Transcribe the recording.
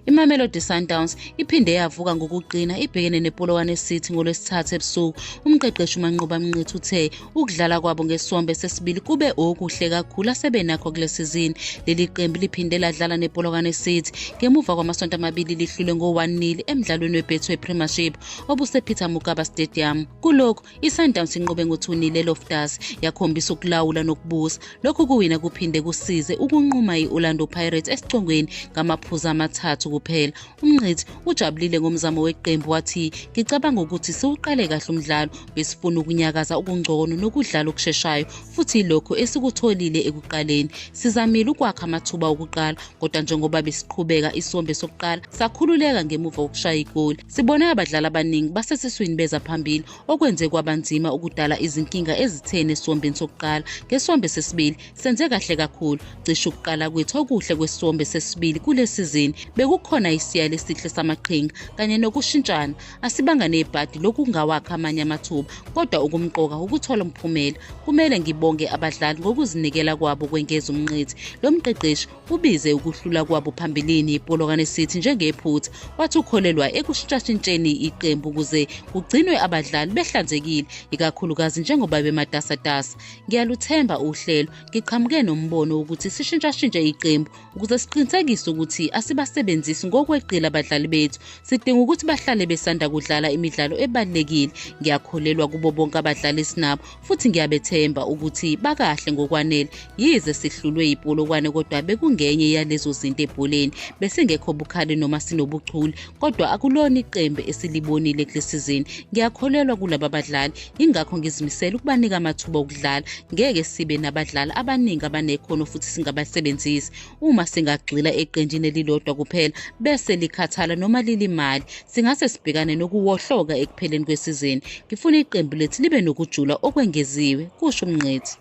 imamelodi sundowns iphinde yavuka ngokuqina ibhekene nepolokwane city ngolwesithathu ebusuku umqeqeshi umanqoba mnqithi uthe ukudlala kwabo ngesombe sesibili kube okuhle kakhulu asebenakho kule sizini leli qembu liphinde ladlala nepolokwane city ngemuva kwamasonto amabili lihlule ngo-1 nil emdlalweni webetway premiership obusepeter mugaba stadium kulokhu ISundowns inqobe ngothunile eLoftus yakhombisa ukulawula nokubusa. Lokhu kuwina kuphinde kusize ukunquma i-Orlando Pirates esicongweni ngamaphuzu amathathu kuphela. UMngqithi ujabulile ngomzamo weqembu wathi, "Ngicabanga ukuthi siwuqale kahle umdlalo, besifuna ukunyakaza okungcono nokudlala okusheshayo futhi ilokho esikutholile ekuqaleni. Sizamile ukwakha amathuba okuqala, kodwa njengoba besiqhubeka isombe sokuqala sakhululeka ngemuva kokushaya igoli." Sibone abadlali abaningi basesiswini beza phambili okwenze kwabanzima ukudala izinkinga ezitheni esiwombeni sokuqala. Ngesombe sesibili senze kahle kakhulu. Cishe ukuqala kwethu okuhle kwesombe sesibili kule sizini bekukhona isiyalo esihle samaqhinga kanye nokushintshana. Asibanga nebhadi lokungawakha amanye amathuba kodwa okumqoka ukuthola umphumela. Kumele ngibonge abadlali ngokuzinikela kwabo kwengeza umnqithi. Lo mqeqeshi ubize ukuhlula kwabo phambilini iPolokwane City njengephutha wathi ukholelwa ekushintshashintsheni iqembu ukuze kugcinwe abadlali behlanzekile ikakhulukazi njengoba bematasatasa ngiyaluthemba uhlelo ngiqhamuke nombono wokuthi sishintshashintshe iqembu ukuze siqinisekise ukuthi asibasebenzisi ngokweqila abadlali bethu sidinga ukuthi bahlale besanda kudlala imidlalo ebalulekile ngiyakholelwa kubo bonke abadlali esinabo futhi ngiyabethemba ukuthi bakahle ngokwanele yize sihlulwe yipolokwane kodwa bekungenye yalezo zinto ebholeni besingekho bukhali noma sinobuchule kodwa akulona iqembu esilibonile kule sizini ngiyakholelwa kulaba badlali yingakho ngizimisele ukubanika amathuba okudlala ngeke sibe nabadlali abaningi abanekhono futhi singabasebenzisi Uma singagxila eqenjini elilodwa kuphela bese likhathala noma lilimali, singase sibhekane nokuwohloka ekupheleni kwesizini. Ngifuna iqembu lethu libe nokujula okwengeziwe, kusho uMngqithi.